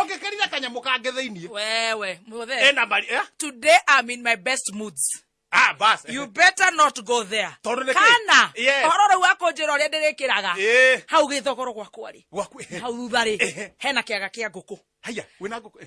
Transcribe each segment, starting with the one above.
Okay, karira kanyamå kange thä iniä wewe muthe ena mari eh? today i'm in my best moods ah, bas you better not go there Tondũ nĩkĩ? kana Yes. ũhoro rĩu akũnjĩra ũrĩa ndĩrĩkĩraga Eh, hau gĩthogoro gwakwa rĩ gwaku eh, hau thutha rĩ Ehe. hena kĩaga kĩa ngũkũ haya wä na ngå kå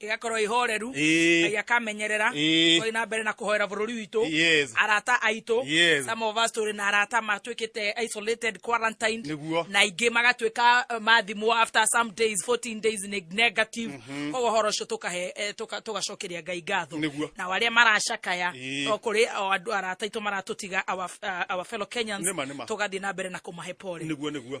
ĩgakorwo ihoreru Ĩĩ. ngai akamenyerera Ĩĩ. twathi na mbere na kũhoera bũrũri witũ Yes. arata aitũ Yes. some of us tũrĩ na arata matuĩkĩte isolated quarantined Nĩguo. na ingĩ magatuĩka eh, mathimwo after some days 14 days ne- negative koguo ũhoro ũcio tũkahe eh, tũka- tũgacokeria ngai ngatho Nĩguo. na arĩa maracakaya Ĩĩ. o kũrĩ o andũ arata aitũ maratũtiga our, uh, our fellow kenyans Nĩma, nĩma. tũgathiĩ na mbere na kũmahe pole nĩguo nĩguo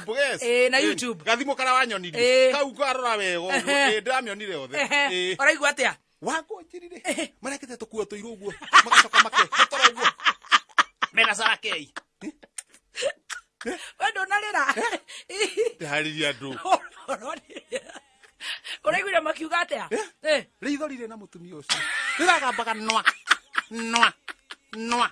Facebook Yes. eh, na Eh, YouTube gathimo kara wanyonirie Eh. kau ngarora wega ũguo. Ehe. Eh, ndĩramĩonire yothe Ehe, Eh. ũraigua atĩa wangonjirire marekete tũkuo tũirũ ũguo magacoka makehotora ũguo mena sarakei we ndũnarĩra ndĩharĩria andũ ũraiguire makiuga atĩa Eh, rĩitho rirĩ na mũtumia ũcio rĩragambaga nwa nwa nwa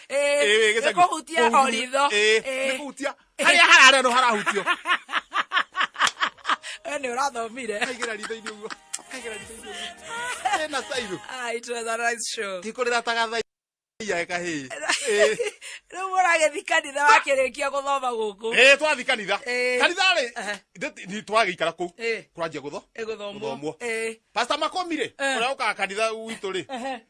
Ĩĩ, gĩcagi. nĩkũhutia Kũhutia- oritho ĩĩ, nĩkũhutia harĩa hararĩa no harahutio we nĩ ũrathomire kaigĩra ritho-inĩ ũguo kaigĩra ritho-inĩ ũguo ĩna cairũ Ah, it was a nice show. tikũrĩra tagathaia kahĩĩ Ĩĩ. rĩu mũragĩthi kanitha wakĩrĩkia gũthoma gũkũ Ĩĩ, twathiĩ kanitha Ĩĩ. kanitha rĩ Aha. ndĩ- nĩ twagĩikara kũu Ĩĩ. kũranjia gũtho ĩgũthomwo Gũthomwo. pasta makũmire Eh. ũrĩa ũkaga kanitha witũ rĩ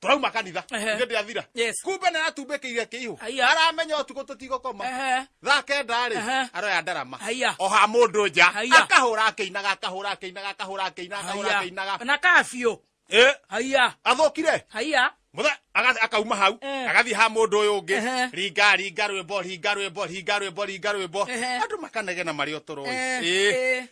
turauma kanitha Ehe. hĩndĩ athira Yes. kumbe nä aratumbä kä ire kä ihå Aya. aramenya å tukå tå tigå koma Ehe. thaa kenda rä Ehe. aroya ndarama Aya. oha må ndå nja Aya. akahå ra akä inaga akahå ra akä inaga akahå ra akä inaga akahå ra akä Haya. inaga na kaa biå Ĩ, haiya athå kire haiya Mũthe- aga- akauma hau Eh. agathiĩ ha mũndũ ũyũ ũngĩ Ehe. ringa ringa rwĩmbo ringa rwĩmbo ringa rwĩmbo ringa rwĩmbo Ehe. andũ makanegena marĩ o tũrũĩ Eh, Ĩ. eh.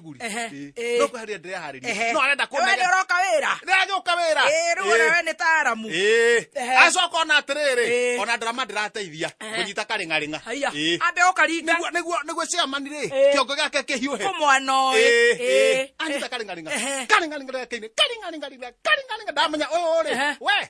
nguri Ehe, Ĩĩ. ĩĩ. no kweheria ndĩreharĩria Ehe. no arenda Wewe nĩ kũnega ũroka wĩra nĩagĩũka wĩra Ĩĩ, rĩu ona we nĩ taaramu Ehe. acoka ona atĩrĩrĩ Ĩĩ. ona ndarama ndĩrateithia Ehe. kũnyita karĩng'arĩng'a haiya Ĩĩ. ambe ũkaringa Nĩguo- nĩguo- nĩguo ciamani rĩ Ĩĩ. kĩongo gĩake kĩhiũhe ũmwana ũyũ Ĩĩ, ĩĩ. Ĩĩ. anyita karĩng'arĩng'a Ehe. karĩng'arĩng'a rĩake-inĩ karĩng'arĩng'arĩng'a karĩng'arĩng'a ndamenya ũyũ rĩ Ehe. we